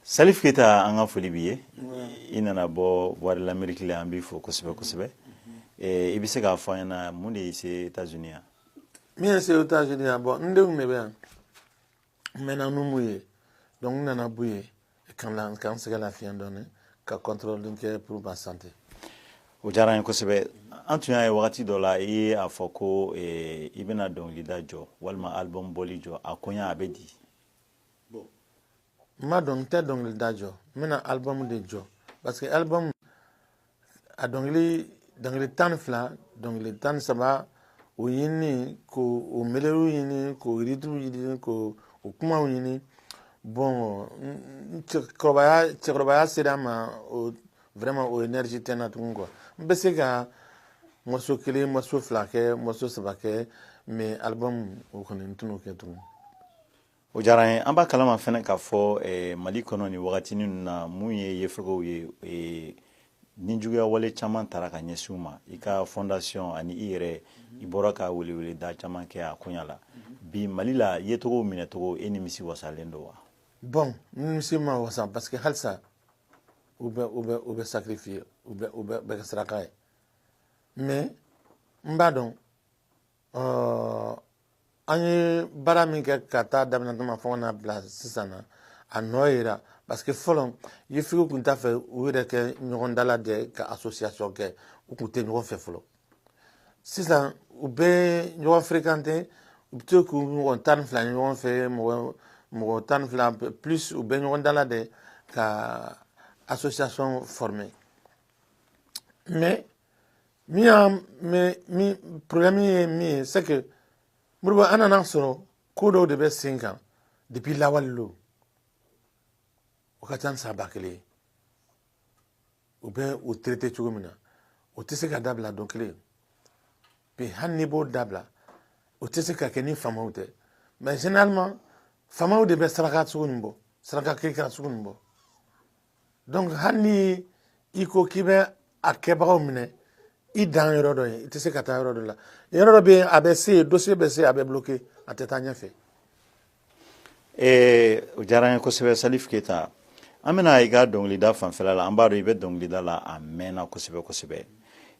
salif keyita an ka foli b'i ye i nana bɔ voix de l'amérique la an b'i fo kosɛbɛ kosɛbɛ eh, i bɛ se k'a fɔ an ɲɛna mun de y'i se états unis yan min ye n se états unis yan bon n denw de bɛ yan n mɛnna n m'u ye donc n nana b'u ye ka n sɛgɛn lafiɲɛ dɔɔni ka contrôle kɛ pour ma santé o diyara an ye kosɛbɛ an tun y'a ye wagati dɔ la i ye a fɔ ko eh, i bɛna dɔnkilida jɔ walima album bɔli jɔ a koɲa a bɛ di n ma dɔn n tɛ dɔnkilida jɔ n bɛna album de jɔ parce que album a dɔnkili dɔnkili tan ni fila dɔnkili tan ni saba o ɲinini k'o melodiw ɲini k'o rythmew ɲini k'o o kumaw ɲini bon cɛkɔrɔbaya cɛkɔrɔbaya sera n ma o vraiment o énergie tɛ n na tugun quoi n bɛ se ka morceau kelen morceau fila kɛ morceau saba kɛ mais album o kɔni n tɛn'o kɛ tugun o diyara an ye an b'a kalama fɛnɛ k'a fɔ eh, mali kɔnɔ nin wagatini ninnu na mun ye yefegew ye eh, nijuguya wale caman taara ka ɲɛsin u ma i ka fondation ani i yɛrɛ i bɔra ka welewele da caman kɛ a koɲa la bi mali la yefegew minɛcogo e nimisi wasalen don wa bon n nimisi ma wasa parce que halisa u bɛ u bɛ u bɛ sacrifier u bɛ u bɛ bɛ kɛ saraka ye mais n b'a dɔn euh, an ye baara min kɛ k'a ta a daminɛ tuma fo ka n'a bila sisan na a nɔ yera parce que fɔlɔ yefegew tun t'a fɛ u yɛrɛ ka ɲɔgɔn dalajɛ ka association kɛ u tun tɛ ɲɔgɔn fɛ fɔlɔ sisan u bɛ ɲɔgɔn fréquenter u bɛ to k'u mɔgɔ tan ni fila ye ɲɔgɔn fɛ mɔgɔ mɔgɔ tan ni fila plus u bɛ ɲɔgɔn dalajɛ ka association former mais min y'a mais min problème ye min ye c'est que modibo an nana sɔrɔ ko dɔw de bɛ sen kan depuis lawale la o ka ca ni san ba kelen ye u bɛ o traité cogo min na o tɛ se ka dabila don kelen puis hali n'i b'o dabila o tɛ se ka kɛ ni faamaw tɛ mais généralement faamaw de bɛ saraka sugu nin bɔ saraka kirikira sugu nin bɔ donc hali ni i ko k'i bɛ a kɛbagaw minɛ i dan yɔrɔ dɔ ye i tɛ se ka taa yɔrɔ dɔ la yɔrɔ dɔ bɛ yen a bɛ se yen dossier bɛ se a bɛ bloqué a tɛ taa ɲɛfɛ ee o diyara an ye kosɛbɛ salif keyita an bɛna i ka dɔnkilida fanfɛla la an b'a dɔn i bɛ dɔnkilida la a mɛnna kosɛbɛ kosɛbɛ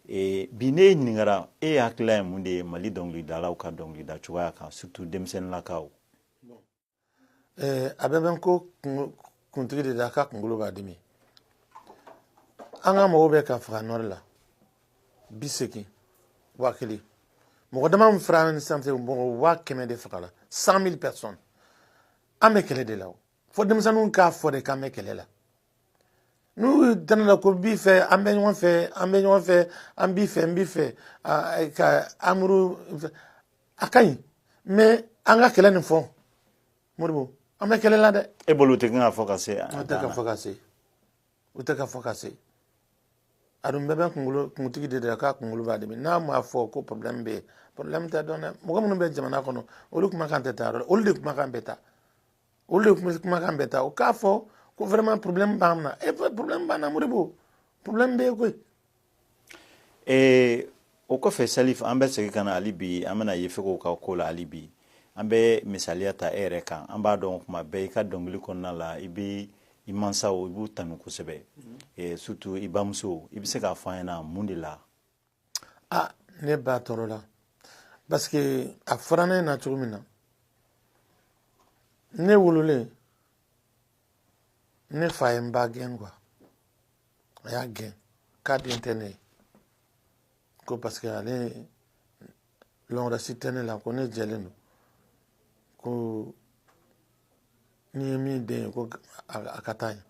ee bi n'e ɲininkara e hakilila ye mun de ye mali dɔnkilidalaw ka dɔnkilida cogoya kan surtout denmisɛnninlakaw a bɛɛ bɛ ko kuntigi de la a ka kunkolo b'a dimi an ka mɔgɔw bɛ ka faga nord la bi segin waa kelen mɔgɔ dama min fara ni sanfɛ mɔgɔ waa kɛmɛ de fagala cent mille personnes an bɛ kɛlɛ de la o fo denmisɛnninw k'a fɔ de k'an bɛ kɛlɛ la n'u danna la ko b'i fɛ an bɛ ɲɔgɔn fɛ an bɛ ɲɔgɔn fɛ an b'i fɛ n b'i fɛ ka amour a ka ɲi mais an ka kɛlɛ nin fɔ moribo an bɛ kɛlɛ la dɛ e bolo tɛ kan ka fɔ ka se an tɛ k'a fɔ ka se u tɛ k'a fɔ ka se a dun bɛɛ bɛ kunkolo kuntigi de da k'a kunkolo b'a dimi n'a m'a fɔ ko problème bɛ yen problème tɛ dɔn dɛ mɔgɔ minnu bɛ jamana kɔnɔ olu kumakan tɛ taa yɔrɔ olu de kumakan bɛ taa olu de kumakan bɛ taa u k'a fɔ ko vraiment problème b'an na e problème b'an na moribo problème bɛ yen koyi ee o kɔfɛ salif an bɛ segin ka na hali bi an bɛna yefegew ka ko la hali bi an bɛ misaliya ta e yɛrɛ kan an b'a dɔn kuma bɛɛ i ka dɔnkili kɔnɔna la i bɛ i mansaw i b'u tanu kosɛbɛ mhm. surtout i bamuso i bɛ se k'a fɔ an ɲɛna mun de la ah ne ba tɔɔrɔla parce que a fɔra ne ɲɛna cogo min na ne wololen ne fa ye n ba gɛn quoi a y'a gɛn k'a den tɛ ne ye ko parce que ale yɔrɔ si tɛ ne la ko ne jɛlen don ko ne ye min den ye ko a ka taa yen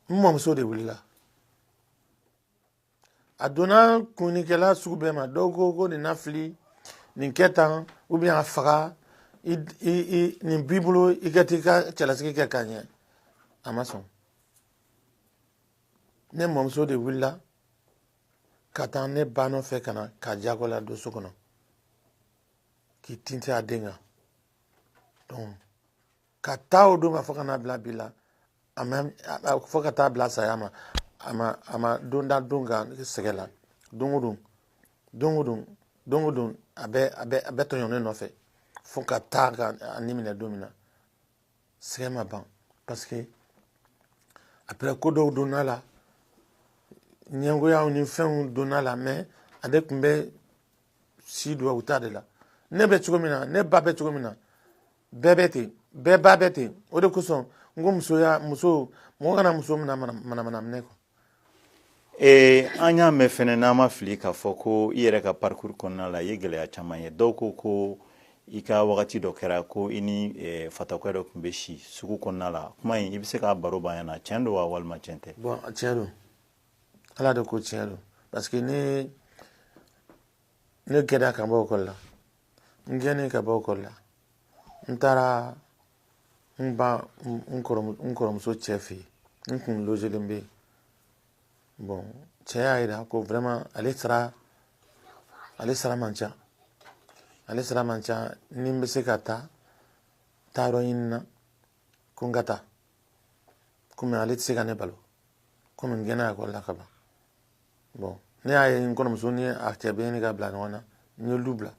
n mɔmuso de wulila a donna kunnikɛla sugu bɛɛ ma dɔw ko ko nin nafili nin kɛ tan ou bien a faga i i i nin b'i bolo i ka t'i ka cɛlasigi kɛ ka ɲɛ a ma sɔn ne mɔmuso de wulila ka taa ne ba nɔfɛ ka na k'a jagoya don so kɔnɔ k'i tintin a den kan donc k'a ta o don ma fo ka n'a bila bi la a ma fo ka taa bila saya ma a ma a ma don da don kan sɛgɛn la don o don don o don don o don a bɛ a bɛ a bɛ tɔɲɔ ne nɔfɛ fo ka taa ka a ni minɛ don min na sɛgɛn ma ban parce que après ko dɔw donna la ɲɛngoyaw ni fɛnw donna la mais ale tun bɛ si duwawu ta de la ne bɛ cogo min na ne ba bɛ cogo min na bɛɛ bɛ ten bɛɛ ba bɛ ten o de kosɔn n ko musoya muso mɔgɔ kana muso mina manamana minɛ kɔ ee an y'a mɛn fɛnɛ n'an ma fili k'a fɔ ko i yɛrɛ ka parcours kɔnɔna la i ye gɛlɛya caman ye dɔw ko ko i ka wagati dɔ kɛra ko i ni eh, fatɔkɛ dɔ tun bɛ si sugu kɔnɔna la kuma in i bɛ se k'a baro b'an ɲɛna tiɲɛ don wa walima tiɲɛ tɛ bon tiɲɛ don ala de ko tiɲɛ don parce que ne ne gɛnna ka bɔ ekɔli la n gɛnnen ka bɔ ekɔli la n taara n ba n kɔrɔmuso cɛ fɛ yen n kun lozelen bɛ yen bɔn cɛ y'a yira ko vraiment ale sara ale sara man ca ale sara man ca ni n bɛ se ka taa taa yɔrɔ ɲini na ko n ka taa komi ale tɛ se ka ne balo komi n gɛnna ekɔli la ka ban bɔn ne y'a ye n kɔrɔmuso ni a cɛ bɛ ɲini ka bila ɲɔgɔn na n ye du bila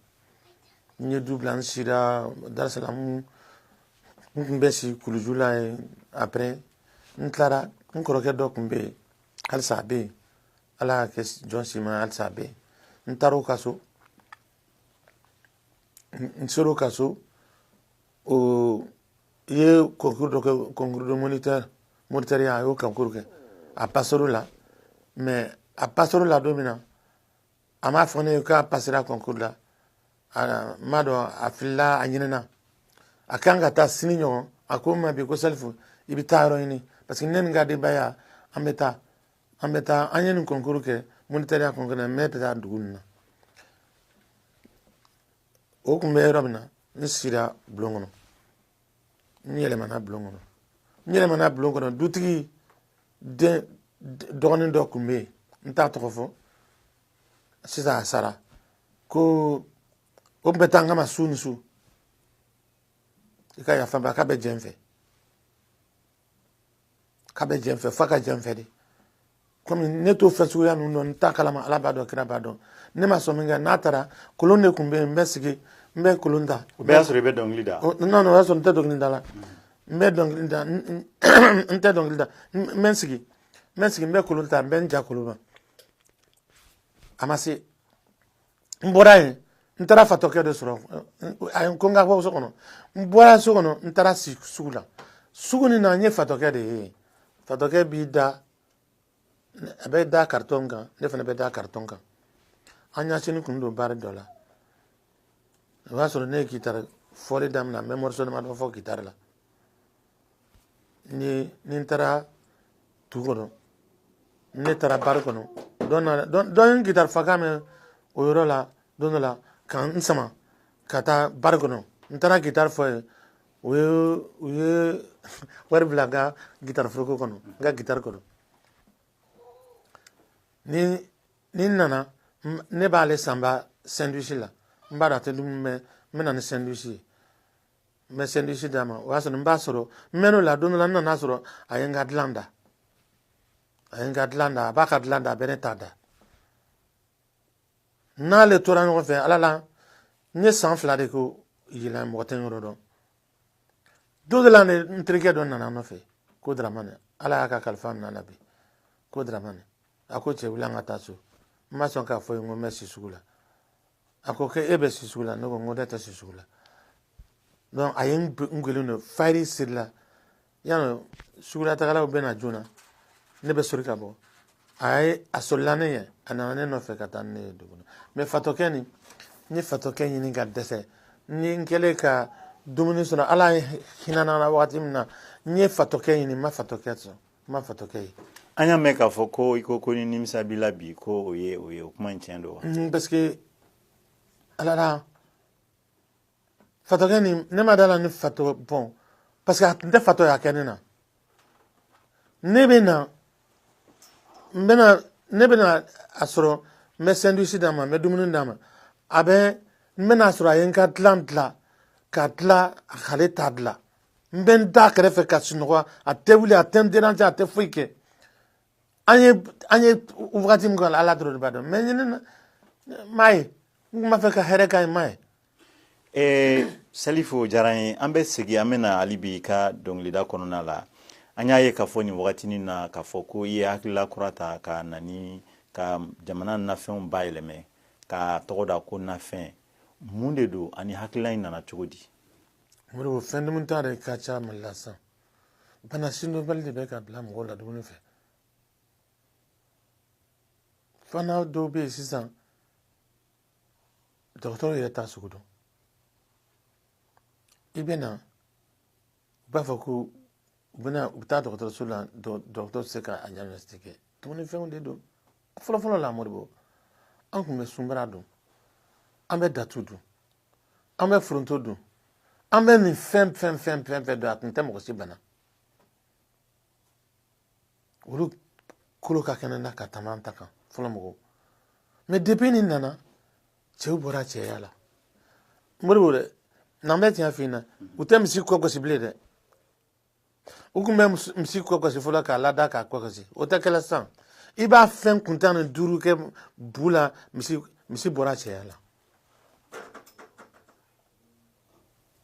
n ye du bila n sira darisalamu n tun bɛ si kuluju la yen après n tilara n kɔrɔkɛ dɔ tun bɛ yen halisa a bɛ yen ala y'a kɛ jɔn si ma halisa a bɛ yen n taara o ka so n sera o ka so o ye concours dɔ kɛ concours de moniteur moniteur ya a y'o concours kɛ a passera o la mais a passera o la don min na a m'a fɔ ne ye k'a passera concours la n m'a dɔn a filila a ɲinɛna a kan ka taa sini ɲɔgɔn a ko n ma bi ko salifu i bɛ taa yɔrɔ ɲini parce que ne ni n ka denbaya an bɛ taa an bɛ taa an ye nin concours kɛ moniteur ya concours la mais bɛ taa dugu nin na o tun bɛ yɔrɔ min na n sira bulon kɔnɔ n yɛlɛmana bulon kɔnɔ n yɛlɛmana bulon kɔnɔ dutigi dɔgɔnin dɔ tun bɛ yen n t'a tɔgɔ fɔ sisan a sara ko o tun bɛ taa n kama su ni su a ka yafa n ma k'a bɛ jɛ n fɛ k'a bɛ jɛ n fɛ f'a ka jɛ n fɛ de komi ne t'o fɛn suguya ninnu dɔn n t'a kalama ala b'a dɔn kira b'a dɔn ne ma sɔn min kɛ n'a taara kolon de tun bɛ yen n bɛ sigi n bɛ kolon ta o bɛɛ y'a sɔrɔ i bɛ dɔnkili da non o y'a sɔrɔ n tɛ dɔnkili da la n bɛ dɔnkili da n tɛ dɔnkili da n bɛ n sigi n bɛ n sigi n bɛ kolon ta n bɛ n ja kolon ma a ma se n bɔra yen n taara fatɔkɛ de sɔrɔ a ye n ko n ka bɔ so kɔnɔ n bɔra so kɔnɔ n taara si sugu la sugu nin na n ye fatɔkɛ de ye fatɔkɛ b'i da a bɛ da karitɔn kan ne fana bɛ da karitɔn kan an ɲɛsinnen kun don bari dɔ la o y'a sɔrɔ ne ye kitari fɔli daminɛ n bɛ mɔriso damadɔ fɔ kitari la ni ni n taara dugu kɔnɔ ne taara bari kɔnɔ dɔ ye gitari fɔkan mɛn o yɔrɔ la don dɔ la ka n sama ka taa bari kɔnɔ n taara gitari fɔ yen u ye u ye wari bila n ka gitari foroko kɔnɔ n ka gitari kɔnɔ ni ni n nana ne b'ale sanba sɛndwisi la n b'a dɔn a tɛ dumuni mɛn n bɛ na ni sɛndwisi ye n bɛ sandwich d'a ma o y'a sɔrɔ n b'a sɔrɔ n mɛn'o la don dɔ la n nan'a sɔrɔ a ye n ka dilan da a ye n ka dilan da a b'a ka dilan da a bɛ ne ta da n'ale tora ɲɔgɔn fɛ ala la n ye san fila de kɛ yen mɔgɔ tɛ n yɔrɔ dɔn don dɔ la ne n terikɛ dɔ nana n nɔfɛ ko daramani ala y'a ka kalifa minɛ a la bi ko daramani a ko cɛ wuli an ka taa so n ma sɔn k'a fɔ a ye n ko n bɛ si sugu la a ko k'e bɛ si sugu la ne ko n ko ne tɛ si sugu la donc a ye n gɛlɛn don fajiri siri la yanni sugulatagalaw bɛ na joona ne bɛ sori ka bɔ a ye a solila ne ɲɛ a nana ne nɔfɛ ka taa ne ye dugu la mais fatɔkɛ nin n ye fatɔkɛ ɲini ka dɛsɛ ni n kɛlen ka dumuni sɔrɔ ala hinɛna n na wagati min na n ye fatɔkɛ ɲini n ma fatɔkɛ sɔrɔ n ma fatɔkɛ ye an y'a mɛn k'a fɔ ko i ko ko ni nimisa b'i la bi ko o ye o ye o kuma in tiɲɛ don wa mm, parce que ala la fatɔkɛ nin ne ma d'a la ni fatɔ don parce que a tun tɛ fatɔya kɛ ne na ne bɛ na n bɛna ne bɛna a sɔrɔ n bɛ sandwich d'a ma n bɛ dumuni d'a ma a bɛ n bɛna a sɔrɔ a ye n ka dilan dilan ka dilan a k'ale ta dilan n bɛ n d'a kɛrɛfɛ ka sunɔgɔ a tɛ wuli a tɛ n déranger a tɛ foyi kɛ an ye an ye wagati min k'a la ala dɔrɔn de b'a dɔn mais ɲinɛ na n m'a ye n tun b'a fɛ ka hɛrɛ k'a ye n m'a ye eh, salifu o diyara n ye an bɛ segin an bɛna hali bi i ka dɔnkilida kɔnɔna la an y'a ye k'a fɔ nin wagatinin na k'a fɔ ko i ye hakilila kura ta ka na n'i ka jamana nafɛnw bayɛlɛma k'a tɔgɔ da ko nafɛn mun de don ani hakilila in nana cogo di modibo fɛn dumunta de ka ca mali la sisan bana sidɔnbali de bɛ ka bila mɔgɔw la dumuni fɛ fana dɔw bɛ yen sisan dɔgɔtɔrɔ yɛrɛ t'a sugu dɔn i bɛ na u b'a fɔ ko u bɛna u bɛ taa dɔgɔtɔrɔso la dɔgɔtɔrɔ tɛ se ka a diagnostiquer dumunifɛnw de don fɔlɔfɔlɔ la modibo an tun bɛ sunbara dun an bɛ datu dun an bɛ foronto dun an bɛ nin fɛn fɛn fɛn fɛn fɛn dun a tun tɛ mɔgɔ si bana olu kolo ka kɛnɛ na ka tɛmɛ an ta kan fɔlɔ mɔgɔw mais depuis nin nana cɛw bɔra cɛya la modibo dɛ n'an bɛ tiɲɛ f'i ɲɛna u tɛ misi kɔ gosi bilen dɛ u tun bɛ misi kɔ gosi fɔlɔ k'a lada k'a kɔ gosi o tɛ kɛla sisan i b'a fɛn kuntannin duuru kɛ bu la misi misi bɔra cɛya la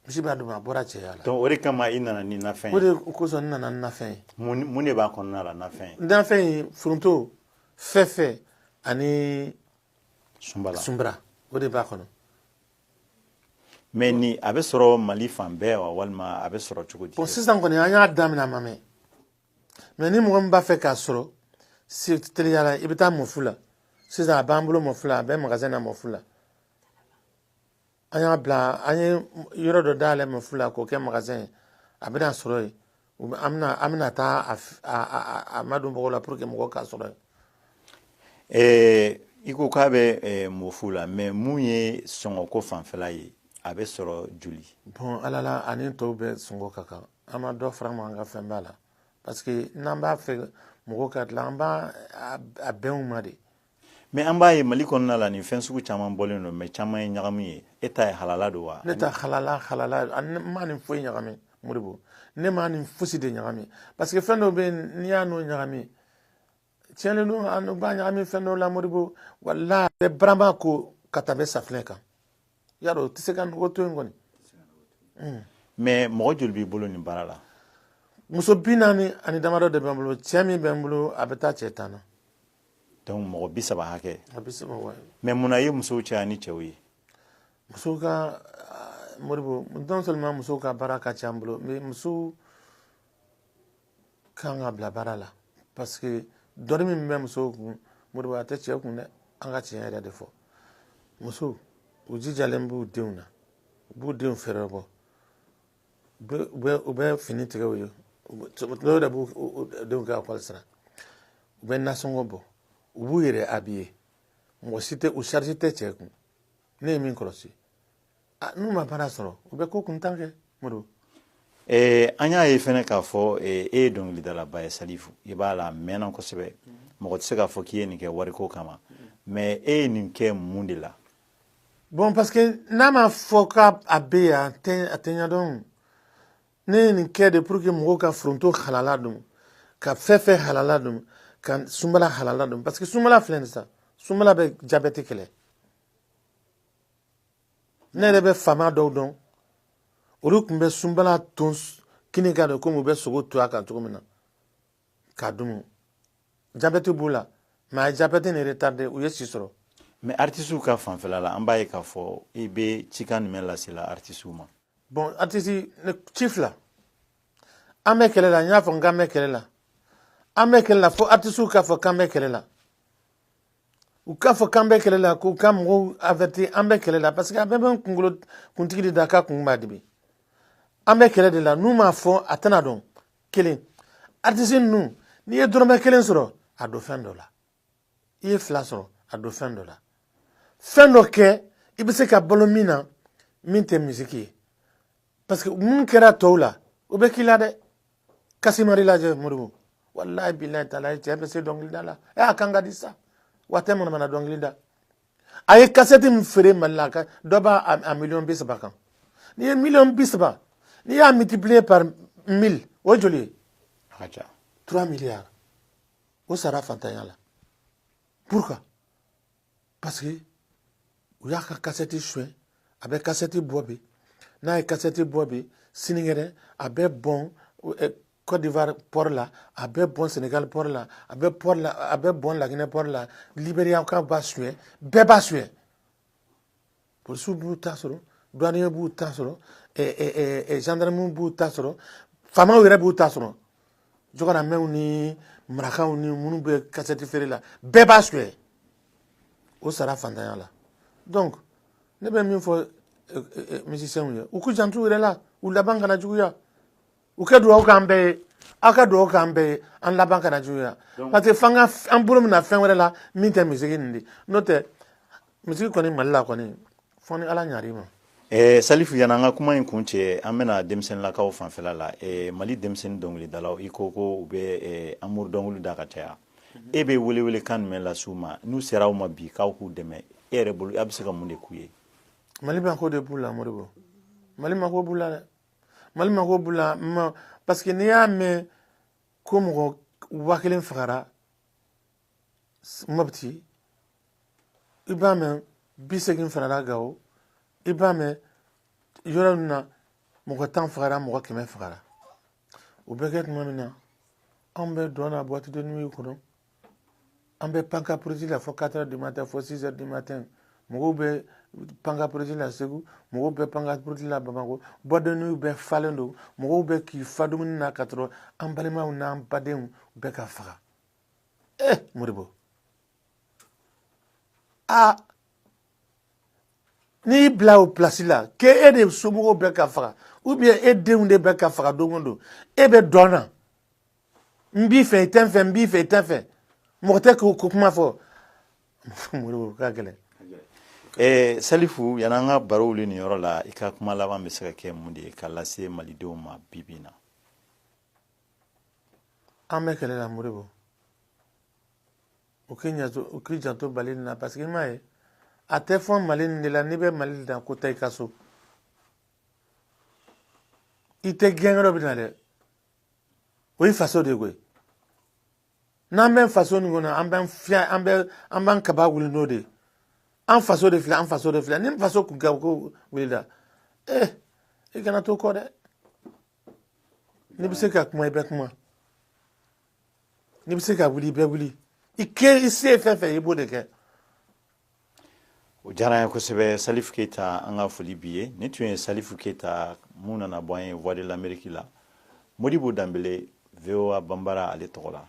misi b'a dun a bɔra cɛya la donc o de kama i nana ni nafɛn ye o de kosɔn n nana ni nafɛn ye mun de b'a kɔnɔna la nafɛn ye nafɛn ye foronto fɛfɛ ani sunbala sunbara o de b'a kɔnɔ mɛ ni a bɛ sɔrɔ mali fan bɛɛ wa walima a bɛ sɔrɔ cogo di bɔn sisan kɔni an y'a daminɛ a ma mɛn mɛ ni mɔgɔ min b'a fɛ k'a sɔrɔ teliya la i bɛ taa mɔfu la sisan a b'an bolo mɔfu la a bɛ magasɛn na mɔfu la an y'a bila an ye yɔrɔ dɔ dayɛlɛ mɔfu la k'o kɛ magasɛn ye a bɛna sɔrɔ yen an bɛna taa a madon mɔgɔw la pour que mɔgɔ k'a sɔrɔ ɛɛ i ko k'a bɛ mɔfu la mɛ mun ye sɔngɔko fanfɛla ye a bɛ sɔrɔ joli bɔn halala ani tɔw bɛɛ sɔngɔ ka kan an ma dɔ fara mɛ an ka fɛn b'a la parce que n'an b'a fɛ mɔgɔw ka dilan an b'a bɛn u ma de mɛ an b'a ye mali kɔnɔna la nin fɛn sugu caman bɔlen don mɛ caman ye ɲagami ye e ta ye halala don wa ne ta halala ne ma nin foyi ɲagami moribo ne ma nin fosi de ɲagami parce que fɛn dɔ bɛ yen n'i y'a n'o ɲagami tiɲɛlen don an b'a ɲagami fɛn dɔ la moribo wala a bɛ barama ko ka tɛmɛ safinɛ kan y'a dɔn o tɛ se ka nɔgɔ to yen kɔni mɛ mɔgɔ joli b'i bolo nin baara la muso bi naani ani damadɔ de bɛ n bolo cɛ min bɛ n bolo a bɛ taa cɛ tan na donc mɔgɔ bi saba hakɛ mɛ mun na i ye musow caya ni cɛw ye musow ka moribo non seulement musow ka baara ka ca an bolo mais musow kan ka bila baara la parce que doni min bɛ musow kun moribo a tɛ cɛ kun dɛ an ka tiɲɛ yɛrɛ de fɔ musow u jijalen b'u denw na u b'u denw fɛɛrɛbɔ u bɛ fini tigɛ u ye dɔw de b'u denw ka ekɔli sara u bɛ nasɔngɔ bɔ u b'u yɛrɛ abiye mɔgɔ si tɛ u charge tɛ cɛ kun ne ye min kɔlɔsi n'u ma baara sɔrɔ u bɛ ko kuntan kɛ moribo an y'a ye fɛnɛ k'a fɔ e ye dɔnkilidalaba ye salifu i b'a la a mɛnna kosɛbɛ mɔgɔ tɛ se k'a fɔ k'i ye nin kɛ wariko kama mɛ e ye nin kɛ mun de la bɔn paske n'a ma fɔ ko a bɛ yan a tɛ ɲɛdɔn ne ye nin kɛ de pour que mɔgɔw ka foronto halala dun ka fɛfɛ halala dun ka sunbala halala dun parce que sunbala filɛ nin sisan sunbala bɛ jabɛti kɛlɛ ne yɛrɛ bɛ faama dɔw dɔn olu tun bɛ sunbala ton kini kan dɔrɔn komi u bɛ sogo ton a kan cogo min na k'a dun jabɛti b'u la mɛ a ye jabɛti nin retarde u ye si sɔrɔ mɛ artisiw ka fanfɛla la an b'a ye k'a fɔ i bɛ cikan jumɛn lasela artisiw ma bɔn artisi ci filɛ an bɛ kɛlɛ la n y'a fɔ n k'an bɛ kɛlɛ la an bɛ kɛlɛ la fo artisiw k'a fɔ k'an bɛ kɛlɛ la u k'a fɔ k'an bɛ kɛlɛ la k'u ka mɔgɔw avɛti an bɛ kɛlɛ la parce que a bɛɛ bɛ kunkolo kuntigi de da k'a kun b'a dimi an bɛ kɛlɛ de la n'u m'a fɔ a tɛna dɔn kelen artisi ninnu n'i ye dɔrɔmɛ kelen sɔrɔ a don fɛn dɔ la i ye fila sɔrɔ a don fɛn dɔ la fɛn dɔ kɛ i bɛ se ka balo min na min tɛ misiki ye parce que min kɛra tɔw la o bɛ k'i la dɛ kasemadi lajɛ moribo walayi bilayi taala cɛ bɛ se dɔnkilida la ɛ a kan ka di sa w'a tɛ manamana dɔnkili da a ye kasɛti min feere mali la dɔ b'a a miliyɔn bi saba kan n'i ye miliyɔn bi saba n'i y'a multiplier par mille o joli ye a ka ca trois milliards o sara fantanya la pourquoi parce que u y'a ka kasɛti suɲɛ a bɛ kasɛti bɔ bi n'a ye kasɛti bɔ bi sinikɛnɛ a bɛ bɔn Côte d'Ivoire port la a bɛ bɔn Sénégal port la a bɛ port la a bɛ bɔn Laginɛ port la Libériakaw b'a suɲɛ bɛɛ b'a suɲɛ polisiw b'u ta sɔrɔ douanier b'u ta sɔrɔ gendarme b'u ta sɔrɔ faamaw yɛrɛ b'u ta sɔrɔ jɔgɔramɛw ni marakaw ni minnu bɛ kasɛti feere la bɛɛ b'a suɲɛ o sara fantanya la donc ne bɛ min fɔ musiciens ye u k'u janto u yɛrɛ la u laban kana juguya u ka dugawu k'an bɛɛ ye aw ka dugawu k'an bɛɛ ye an laban kana juguya parce que f'an ka an bolo mina fɛn wɛrɛ la min tɛ misiki nin de n'o tɛ misiki kɔni mali la kɔni fɔ ni ala ɲar'i ma Eh, salifu yani an ka kuma in kun cɛ an bɛna denmisɛnninlakaw fanfɛla la eh, mali denmisɛnnin dɔnkilidalaw i ko ko u bɛ eh, amuru dɔnkili da ka caya e bɛ welewele kan jumɛn las'u ma n'u sera aw ma bi k'aw k'u dɛmɛ e yɛrɛ bolo a bɛ se ka mun de k'u ye mali mako de b'u la moribo mali mako b'u la dɛ mali mako b'u la parce que n'i y'a mɛn ko mɔgɔ waa kelen fagara mɔputi i b'a mɛn bi segin fagara gawo i b'a mɛn yɔrɔ min na mɔgɔ tan fagara mɔgɔ kɛmɛ fagara o bɛ kɛ tuma min na anw bɛ dɔn na boîte de nuit kɔnɔ an bɛ pan ka puruti la fo quatre heures du matin fo six heures du matin mɔgɔw bɛ pan ka puruti la segu mɔgɔw bɛ pan ka puruti la bamakɔ boîte de nuit bɛɛ falen don mɔgɔw bɛ k'i fa dumuni na ka sɔrɔ an balimaw n'an badenw bɛ ka faga eh moribo a n'i bila o pilasi la k'e e de somɔgɔw bɛ ka faga ou bien e denw de bɛ ka faga don o don e bɛ dɔn na n b'i fɛ i tɛ n fɛ n b'i fɛ i tɛ n fɛ mɔgɔ tɛ k'o ko kuma fɔ moribo a ka gɛlɛn eh, salifu yani an ka baro wuli nin yɔrɔ la i ka kuma laban bɛ se ka kɛ mun de ye ka lase malidenw ma bi bi in na an bɛ kɛlɛ la moribo u k'i janto u k'i janto mali nin na parce que i m'a ye a tɛ fɔ mali nin de la n'i bɛ mali dan ko taa i ka so i tɛ gɛn yɔrɔ min na dɛ o ye faso de ye koyi n'an bɛ faso nin kɔnɔ an bɛ fiya an bɛ an b'an kaba wuli n'o de ye an faso de filɛ an faso de filɛ ni faso kunkanko wulila ee eh, i kana to kɔ dɛ n'i bɛ se ka kuma i bɛ kuma n'i bɛ se ka wuli i bɛ wuli i kɛ i se ye fɛn fɛn i b'o de kɛ o diyara n ye kosɛbɛ salifu keyita an ka foli b'i ye nin tun ye salifu keyita mun nana bɔ an ye voix de l'amérique la modibo danbele voa banbara ale tɔgɔ la